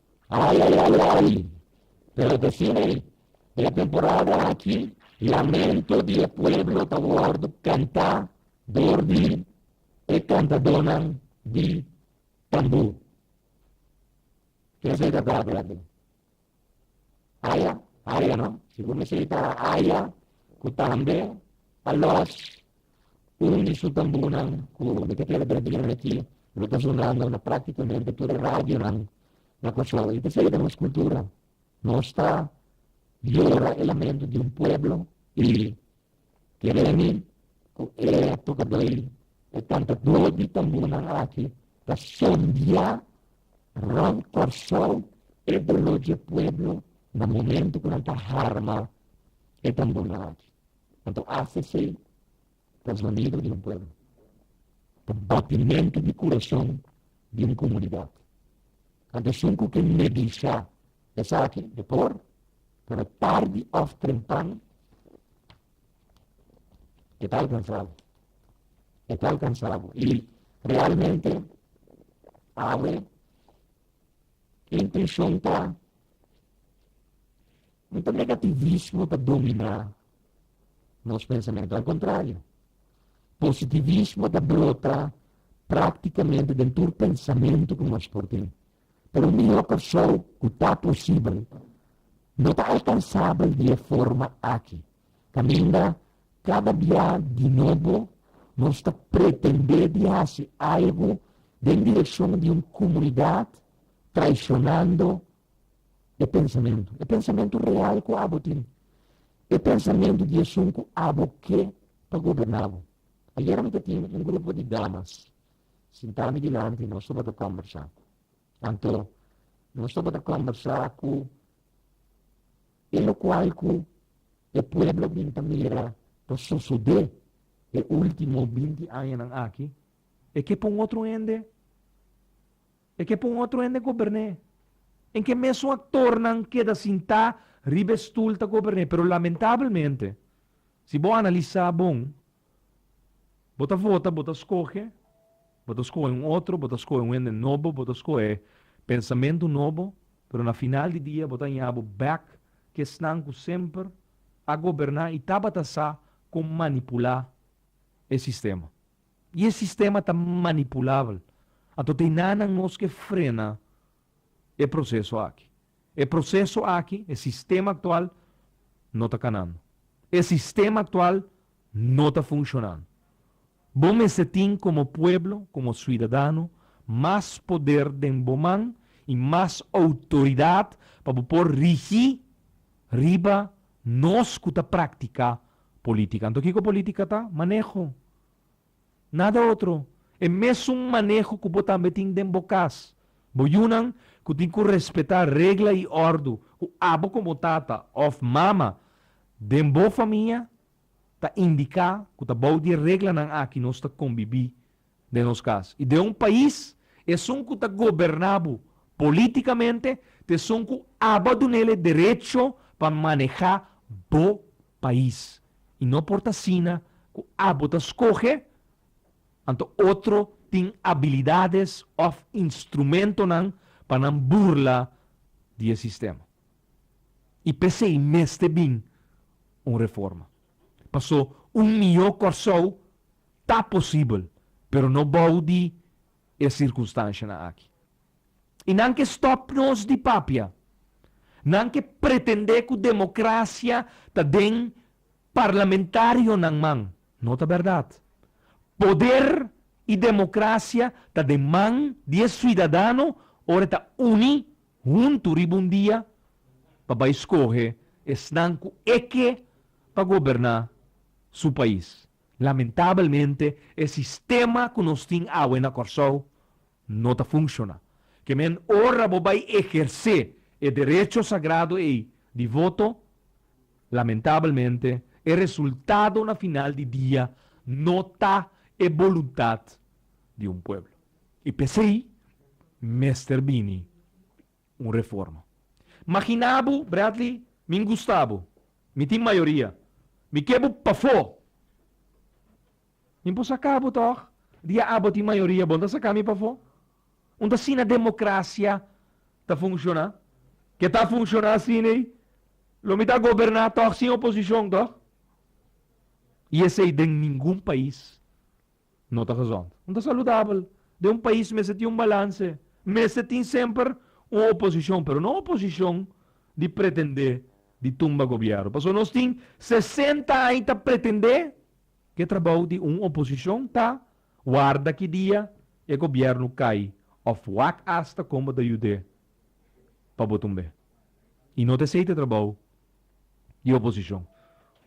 Ai, ai, ai, ai! Pero ta así nei, den e temporada aki lamento di e pueblo ta wòrdu kantá dor di e kantadónan di tambú. Ken esei ta tabra aki? Aya? Aya no? Si bo mi esei ta Aya ku tambe Alosh Un di su tambunan ku mi ta kere traduí aki lo ta sunando na práktikamente tur e radionan na Kòrsou. I ta sedu den nos kultura. Nos ta yora e lamentu di un pueblo i ke remi ku e tokadó i e kantadó di tambunan aki ta sondiá rònt Kòrsou e doló dje pueblo na momentu ku nan ta harma e tambunan aki. pa ta hasi esei pa zonido di un pueblo, pa batimentu di kurason di un komunidat. Anto esun ku ke neglisha esaki e por tabata tardi òf trempan e ta alkansabo. E ta alkansabo. I realmente awe intenshon ta No ta negativismo ta dominá nos pensamentu. Al kontrario, positivismo ta brota práktikamente den tur pensamentu ku nos por tin. Pero mihó pa shou ku ta posibel no ta alkansabel di e forma aki, kaminda kada bia di nobo nos ta pretendé di hasi algu den direkshon di un komunidat traishonando e pensamentu, e pensamentu real ku abo tin, e pensamentu di esun ku abo ke pa goberná bo. Ayera mi ta tin un grupo di damas sintá mi dilanti, nos tabata kòmbersá. Anto nos tabata kòmbersá ku e lokual ku e pueblo a bin ta mira ta sosodé e último binti añanan aki, e ke pa un otro hende. E ke pa un otro hende goberné. En ke mesun aktornan keda sintá riba e stul ta goberné. Pero lamentabelmente, si bo analisá bon, bo ta vota, bo ta skohe, bo ta skohe un otro, bo ta skohe un hende nobo, bo ta skohe pensamentu nobo, pero na final di dia bo ta haña bo bèk ku esnan ku semper a goberná i tabata sa kon manipulá e sistema. I e sistema ta manipulabel. Anto ta e nannan nos ke frena e proseso aki. E proseso aki, e sistema aktual, no ta kanando. E sistema aktual no ta funshonando. Bo mester tin komo pueblo, komo suidadano, mas poder den bo man i mas outoridat pa bo por rigi riba nos ku ta praktiká Política. Anto kico política ta? Maneho. Nada otro. E mesun maneho cu bo tambe tin den bo cas. Bo yunan cu tin cu respeta regla y ordu cu abo como tata of mama den bo famia ta indica cu ta bou di e reglanan aki nos ta combibi. den nos cas, i den un pais esun cu ta goberna bo politicamente ta esun cu aba dunel e derecho pa maneha bo pais, i no por ta asina cu abo ta scoge anto otro tin abilidades of instrumentonan pa nan burla di e sistema. I p'esey mester bin un reforma. Paso un mihó Kòrsou ta posibel, pero no bou di e sirkunstanshanan aki. I nan ke stòp nos di papia, nan ke pretendé ku demokrasia ta den parlamentarionan man, no ta bèrdat. Poder i demokrasia ta den man di e suidadano ora e ta uní. huntu riba un dia pa bai skohe esnan ku e ke pa goberná su pais. Lamentabelmente e sistema ku nos tin awe na Kòrsou no ta funshoná. Ke men ora bo bai ehersé e derecho sagrado ei di voto, lamentabelmente e resultado na final di dia no ta e boluntat di un pueblo. I p'esei mester bini un reforma. Magina bo, Bradley, mi gusta bo, mi tin mayoria, mi ke bo pafó. Mi por saka bo tòg? Di a abo tin mayoria, bon ta saka mi pafó? Unda asina demokrasia ta funshoná? Ke ta funshoná asina ei? Lo mi ta goberná tòg sin oposishon tòg? I esei den ningun pais No ta gezond. No ta saludabel. Den un pais mester tin un balanse. Mester tin semper un oposicion, pero no oposicion di pretende di tumba gobiero. Pasobra nos tin sesenta aña ta pretende cu e trabou di un oposicion ta warda ki dia e gobierno cay of wak asta con bo ta yude pa bo tumbe. I no ta esei ta trabou di oposishon.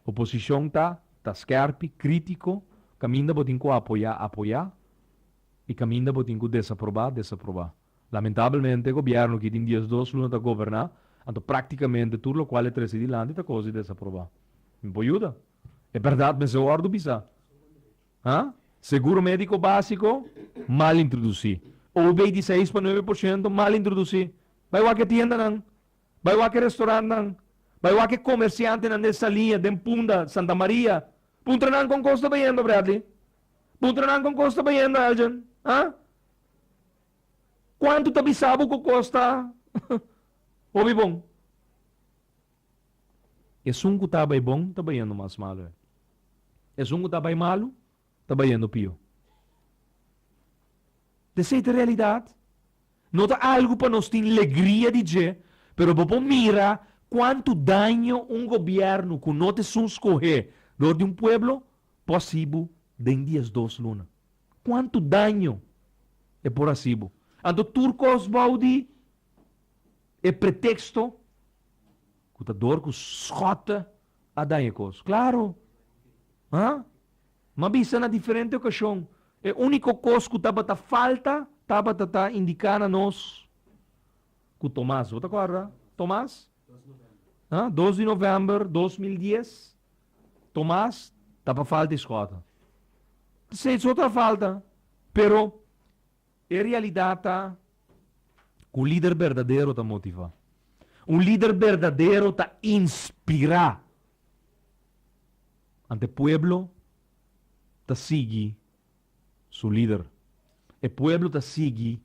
Oposishon ta ta skèrpi, krítiko, kaminda bo tin ku apoyá, apoyá, i kaminda bo tin ku desaprobá, desaprobá. Lamentabelmente gobièrnu aki den dies dos luna ta goberná, anto praktikamente tur lokual e trese dilanti ta kos di desaprobá. Mi por yuda? E bèrdat mester wòrdu bisá. Ha? Seguro médiko básiko, mal introdusí. OB di seis pa nuebe por shento, mal introdusí. Bai wak e tiendanan. Bai wak e restorantnan. Bai wak e komersiantenan den Salia, den Punda, Santa Maria. Puntra nan kon kos ta bayendo, Bradley. Puntra nan kon kos ta bayendo, Elgin. Ha? Kuantu ta bisá bo ku kos ta hopi bon? Esun ku ta bai bon ta bayendo mas malu e. Esun ku ta bai malu ta bayendo pio. Ta esei ta realidat. No ta algu pa nos tin legria di dje, pero bo por mira kuantu daño un gobièrnu ku no ta esun skohé dor di un pueblo por hasi bo den dies dos luna. Kuantu daño e por hasi bo. Anto tur kos bou di E pretexto cu ta door cu schotten a daña e cos. Claro! Haa? Mi a bisa na diferente ocasion, e unico cos cu tabata falta tabata ta indica na nos cu Tomas, bo ta acorda? Tomas? Haa? Dos di november dos mil dies, Tomas, ta pa falta e schotten. Esey so ta falta, pero E realidat ta ku lider berdadero ta motivá. Un lider berdadero ta inspirá. Ante pueblo ta sigui su lider. E pueblo ta sigui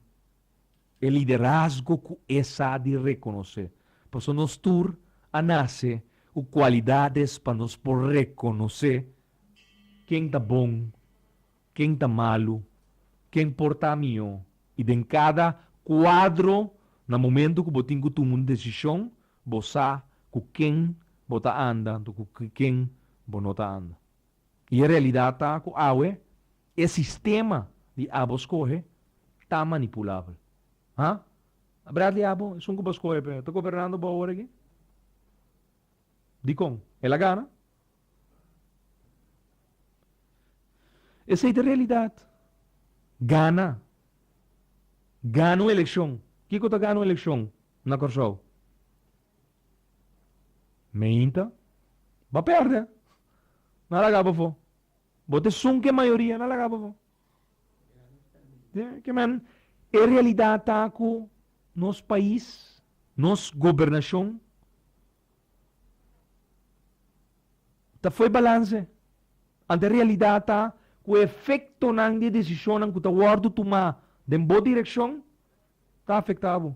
e liderazgo ku e sa di rekonosé. Pasobra nos tur a nase ku kualidades pa nos por rekonosé ken ta bon. Ken ta malu? Ken por ta mihó? I den kada kuadro, na momentu ku bo tin ku tuma un desishon, bo sa ku ken bo ta anda anto ku ken bo no ta anda. I e realidat ta ku awe e sistema di abo skohe ta manipulabel. Ha? A Bradley abo, esun ku bo skohe p'e, ta gobernando bo awor aki? Dikon? El a gana? Esei ta realidat. Gana. Gana un elekshon. Kiko ta gana un elekshon na Kòrsou? Meinta. Bo pèrdè. Nan a laga bofò. Bo ta esun ku e mayoria, nan a laga bofò. E realidat ta ku nos pais, nos gobernashon. Ta fo'i balanse. Ante e realidat ta ku e efektonan di e desishonnan ku ta wòrdu tumá den bo direkshon ta afektá bo.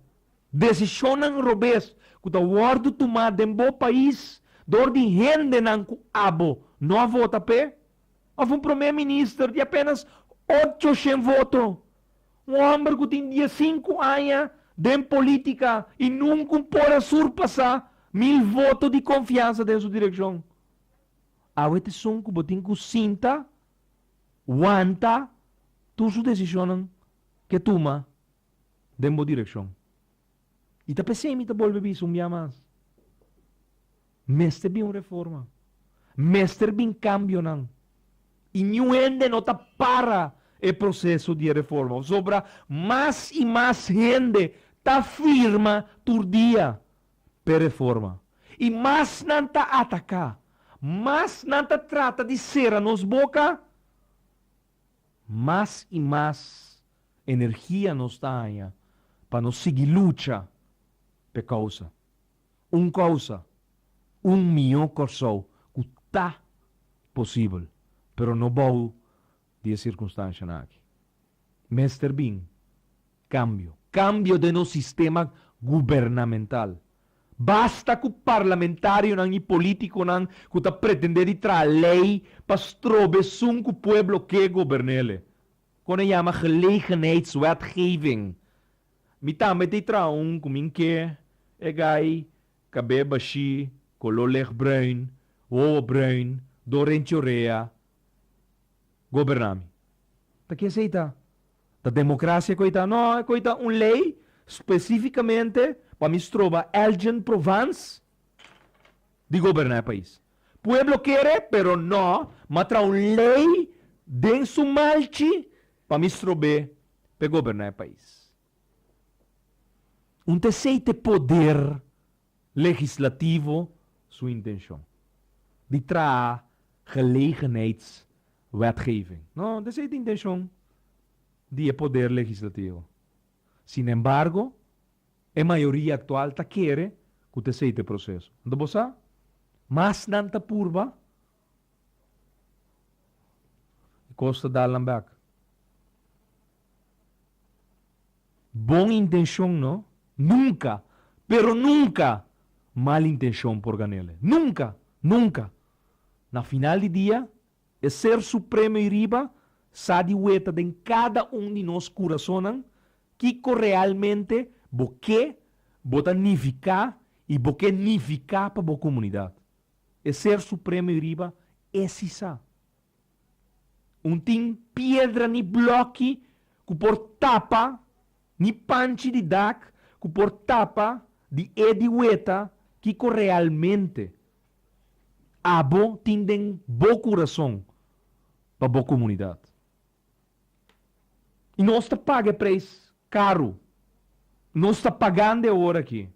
Desishonnan robes ku ta wòrdu tumá den bo pais dor di hendenan ku abo no a vota p'e òf un promé minister di apénas ocho shen voto Un homber cu tin diesinku aña den politica y nuncun por a surpasa mil voto di confiansa den su direccion. Awe e tizon cu bo tin cu sinta, wanta tur su decisionnan ke tuma den bo direccion. Y ta p'esey mi ta bolbe bisa un bia mas. Mester bin un reforma. Mester bin cambionan. Y niun hende no ta para e proceso di e reforma. Pasobra mas y mas hende ta firma tur dia p'e reforma. Y mas nan ta ataca, mas nan ta trata di cera nos boca, mas y mas energia nos ta haña pa nos sigui lucha p'e causa. Un kousa, un mihó Kòrsou ku ta posibel, pero no bou di e sirkunstanshanan aki. Mester bin kambio. Kambio den nos sistema gubernamental. Basta ku parlamentarionan i polítikonan ku ta pretendé di traha lei pa strobe esun ku pueblo ke gobern'ele. Kòne yama gelegenheidswetgeving Mi tambe ta e traha un ku mi n'ke e gai kabé bashí, koló lech bruin, wowo bruin, do renchi orea goberná mi. Ta ke esei ta? Ta demokrasia koi ta? No, koi ta un lei spesífikamente pa mi stroba Elgen Provans di goberná e pais. Pueblo kere, pero no, m'a traha un lei den su malchi pa mi strob'é p'e goberná e pais. Un ta esei t'e poder legislativo su intenshon di traha gelegenheidswetgeving. No, un ta esei t'e intenshon di e poder legislativo. Sinembargo, e mayoria aktual ta kere ku ta esei t'e proseso. Anto bo sa? Mas nan ta purba E kos ta dal nan bek. Bon intenshon no, nunka, pero nunka, mal intenshon por gan'ele. Nunka! Nunka! Na final di dia, e Ser Supremo ei riba sa di weta den kada un di nos kurasonnan kiko realmente bo ke, bo ta nifiká i bo ke nifiká pa bo komunidat. E Ser Supremo i riba e si sa. Un tin piedra ni blòki ku por tapa, ni panchi di dak ku por tapa di e di weta kiko realmente abo tin den bo kurason pa bo komunidat. I nos ta paga e preis karu. Nos ta pagando e ora aki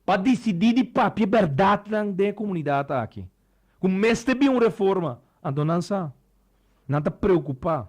pa disidí di papia bèrdatnan den e komunidat aki ku mester bin un reforma. Anto nan sa, nan ta preokupá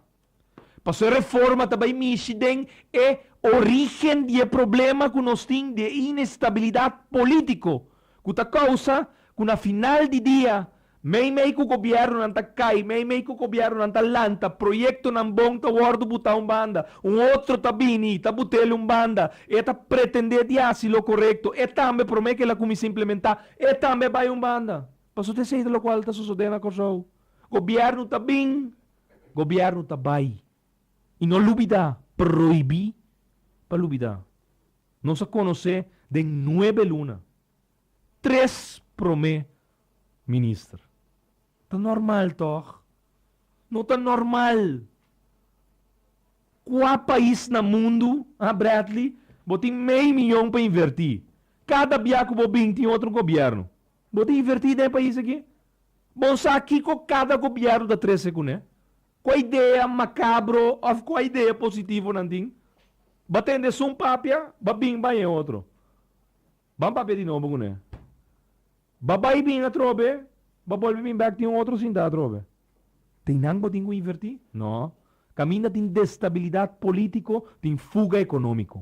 pasobra e reforma ta bai mishi den e orígen di e problema ku nos tin di e inestabilidat polítiko ku ta kousa ku na final di dia Meimei ku gobièrnunan ta kai, meimei ku gobièrnunan ta lanta, proyektonan bon ta wòrdu butá un banda, un otro ta bini i ta buta el un banda. E ta pretendé di hasi lo korekto, e tambe promé kel a kuminsá implementá, e tambe a bai un banda. Paso ta esei ta lokual ta sosodé na Kòrsou. Gobièrnu ta bin, gobièrnu ta bai. I no lubidá, prohibí pa lubidá, nos a konosé den nuebe luna. tres prome minister. Ta normal tog? No ta normal. Cua pais na mundo, ha Bradley, bo tin mei miyon pa inverti, cada bia cu bo bin tin otro gobierno, bo ta inverti den e pais aki? Bon sa kico cada gobierno ta trece cu ne? Cua idea macabro of cua idea positivo nan tin? Ba tende esun papia, ba bin bay e otro. Ban papia di nobo kuné. Ba bai bin atrobe, ba bolbe bin bèk tin un otro sinta atrobe. Tin nan bo tin ku invertí? No. Kaminda tin destabilidat polítiko, tin fuga ekonómiko.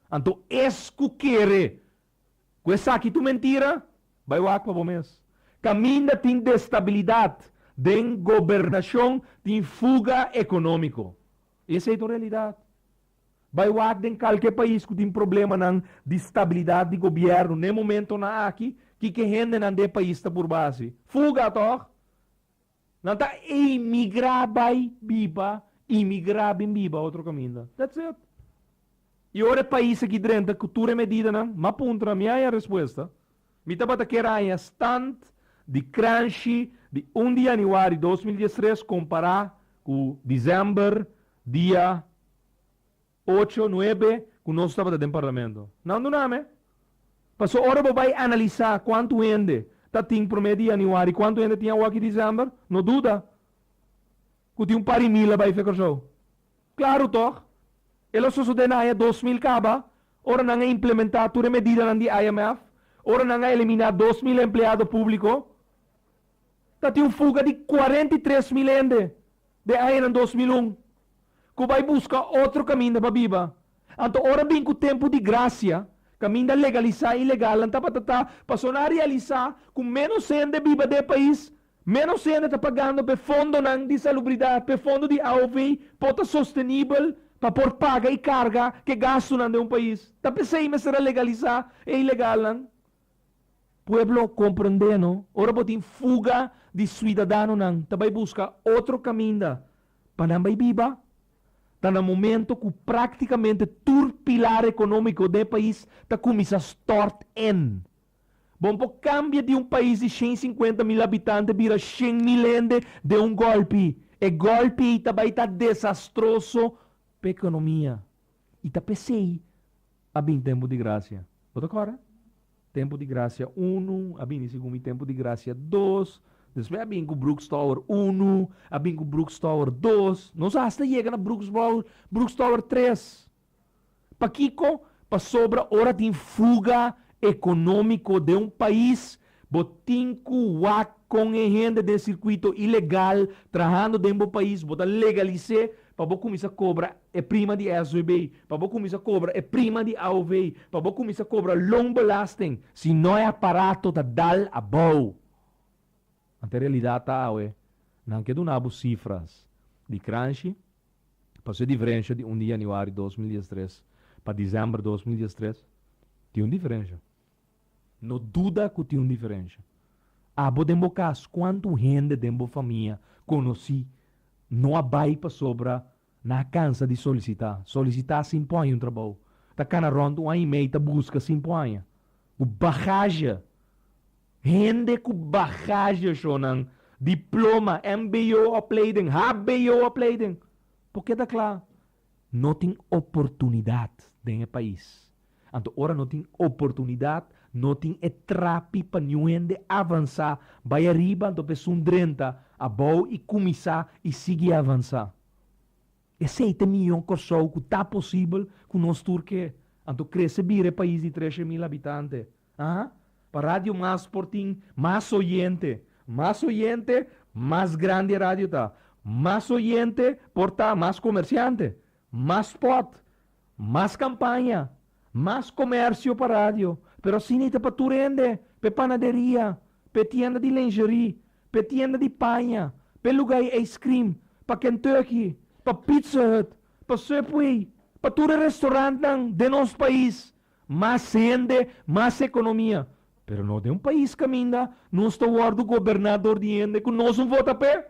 Anto es ku kere ku esaki tu mentira, bai wak pa bo mes. Kaminda tin destabilidat den gobernashon, tin fuga ekonómiko. I esei ta un realidat. Bai wak den kalke pais ku tin problemanan di stabilidat di gobièrnu n'e momentonan aki, kiko hendenan di e pais ta por basi? Fuga tòg! Nan ta emigrá bai biba, emigrá bin biba otro kaminda. That's it. I ora e pais aki drenta ku tur e medidanan, m'a puntra, mi haña respuesta. Mi tabata kier haña stand di Cranshi di un di yanüari dos mil diestres kompará ku disember Dia ocho, nuebe ku nos tabata den parlamento. Nan dunam'e. Paso ora bo bai analisá kuantu hende ta tin promé di yanüari, kuantu hende tin awo'aki disèmber, no duda ku tin un pari mil a bai fe Kòrsou. Klaru tòg? E lo sosodé na aña dos mil kaba, ora nan a implementá tur e medidanan di IMF, ora nan a eliminá dos mil empleado públiko. Ta tin un fuga di cuarenta i tres mil hende den añanan dos mil un cu bay busca otro caminda pa biba. Anto ora bin cu tempo di gracia, caminda legalisá i legalnan tabata ta pasobra nan a realisá cu menos hende biba den e pais, menos hende ta pagando p'e fondonan di salubridad, p'e fondo di AOV por ta sostenibel pa por paga i carga cu e gastunan den un pais. Ta p'esey mester a legalisá e ilegalnan Pueblo comprende no, ora bo tin fuga di suidadanonan ta bay busca otro caminda pa nan bay biba, ta na momento cu practicamente tur pilar economico den e pais ta cuminsa stort en. Bo no por cambia di un pais di shen cincuenta mil habitante bira shen mil hende den un golpi, e golpi ey ta bay ta desastroso pa economia. i ta p'esei a bin tempu di grasia. Bo ta kòrda? Tempu di grasia unu a bini segun mi, tempu di grasia dos, despues a bin ku Brooks Tower unu, a bin ku Brooks Tower dos, nos hasta yega na Brooks Bou, Brooks Tower tres. Pakiko? Pasobra ora tin fuga ekonómiko den un pais, Bo tin cu wak con e hende den circuito ilegal trahando den bo pais, bo ta legalice pa bo cuminsa cobra e prima di SWB, pa bo cuminsa cobra e prima di AOV, pa bo cuminsa cobra loonbelasting. Si no e aparato ta dal abao. Anto e realidad ta awe, nan ke duna bo cifras di Cranshi paso e diferencia di un di januari dos mil diestres pa december dos mil diestres tin un diferencia. No duda cu tin un diferencia. Abo den bo cas cuantu hende den bo famia conoci no a bay pasobra nan a cansa di solicita? Solicita sin pon haña un trabou. Ta cana rond un aña y mey ta busca sin pon haña. Cu bagaje. Hende cu bagaje sho nan diploma, mbo opleiding, hbo opleiding. Porque ta cla No tin oportunidad den e pais. Anto ora no tin oportunidad, no tin e trapi pa niun hende avansa, bai ariba anto pa esun drenta abou y cuminsa y sigui avansa. Esey ta e miyon Corsou cu ta posibel cu nos tur ke anto crece bira e pais di treshe mil habitante. Aha. Pa Radio Mas por tin mas oyente. Mas oyente, mas grandi e radio ta. Mas oyente por ta mas comerciante. Mas spot. Mas campaña. Mas comercio pa radio. Pero asina i ta pa tur hende. P'e panaderia. P'e tienda di lingerie. P'e tienda di paña. P'e lugar di ice cream. Pa Kentucky. Pa Pizza Hut. Pa Subway. Pa tur e restaurantnan den nos pais. Mas hende, mas economia. Pero nos den un pais caminda nos ta wordo goberna door di hende cu nos no vota p'e,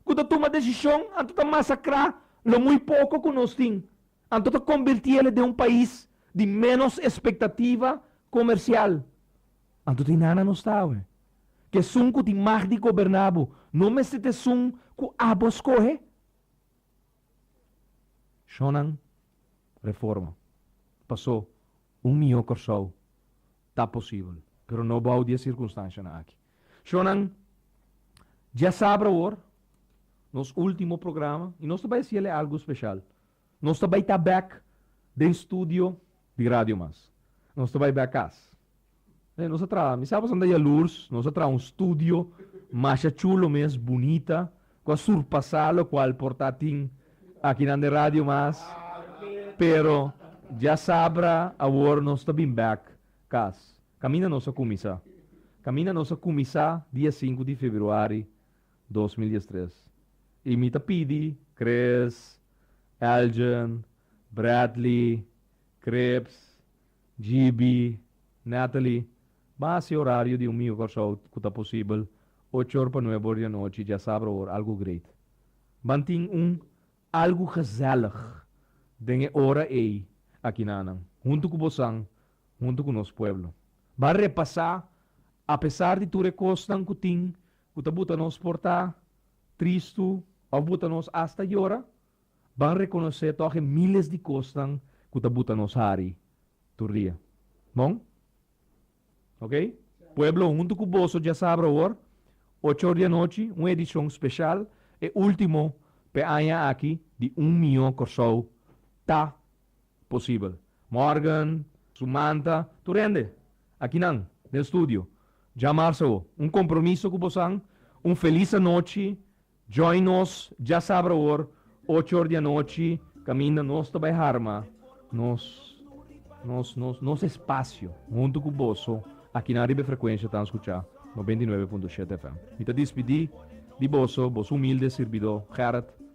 cu ta tuma decision anto ta masacra lo muy poco cu nos tin, anto ta converti ele den un pais di menos expectativa comercial. Anto ta inana nos ta awe. Cu esun cu tin mag di goberna bo no mester ta esun cu abo scohe. Shonnan Reforma pasó un mihó Kòrsou ta posibel pero no bou di e sirkunstanshanan aki. Shonnan dja sabra awor nos último programa i nos ta bai hasiel e algu speshal. Nos ta bai ta bèk den studio di radio mas nos ta bai bek cas e nos a traha mi sa boso anda yalurs nos a traha un studio masha chulo mes bunita cu a surpasa locual por ta tin akinan den radio mas pero diasabra awor nos ta bin bek cas caminda nos a cumisa caminda nos a cumisa dia sinku di februari dos mil dies tres i mi ta pidi Chris, Elgin, Bradley, Cripps, GB, Natalie, Ban hasi horario di un miho Kòrsou ku ta posibel ocho or pa nuebe or di anochi djasabra awor algu great. Ban tin un algu gezèlig den e ora ei aki na nan huntu ku bosan huntu ku nos pueblo. Ban repasá apesar di tur e kosnan ku tin ku ta buta nos por ta tristu òf buta nos asta yora, ban rekonosé tòg e míles di kosnan ku ta buta nos hari tur dia. Bon? Oke. Pueblo, huntu ku boso djasabra awor, ocho or di anochi, un edishon speshal, e último p'e aña aki di Un Mió Kòrsou ta Posibel. Morgan, su manta, tur hende. Akinan, den studio. Dja marsa awo. Un kompromiso ku bosan. Un felis anochi. Join nos djasabra awor, ocho or di anochi, kaminda nos ta bai harma nos, nos, nos, nos espasio huntu ku boso akinan riba e frekuensha tan skuchá noventa i nuebe punto shete FM. Mi ta dispidí di boso, boso humilde sirbidó Gerrit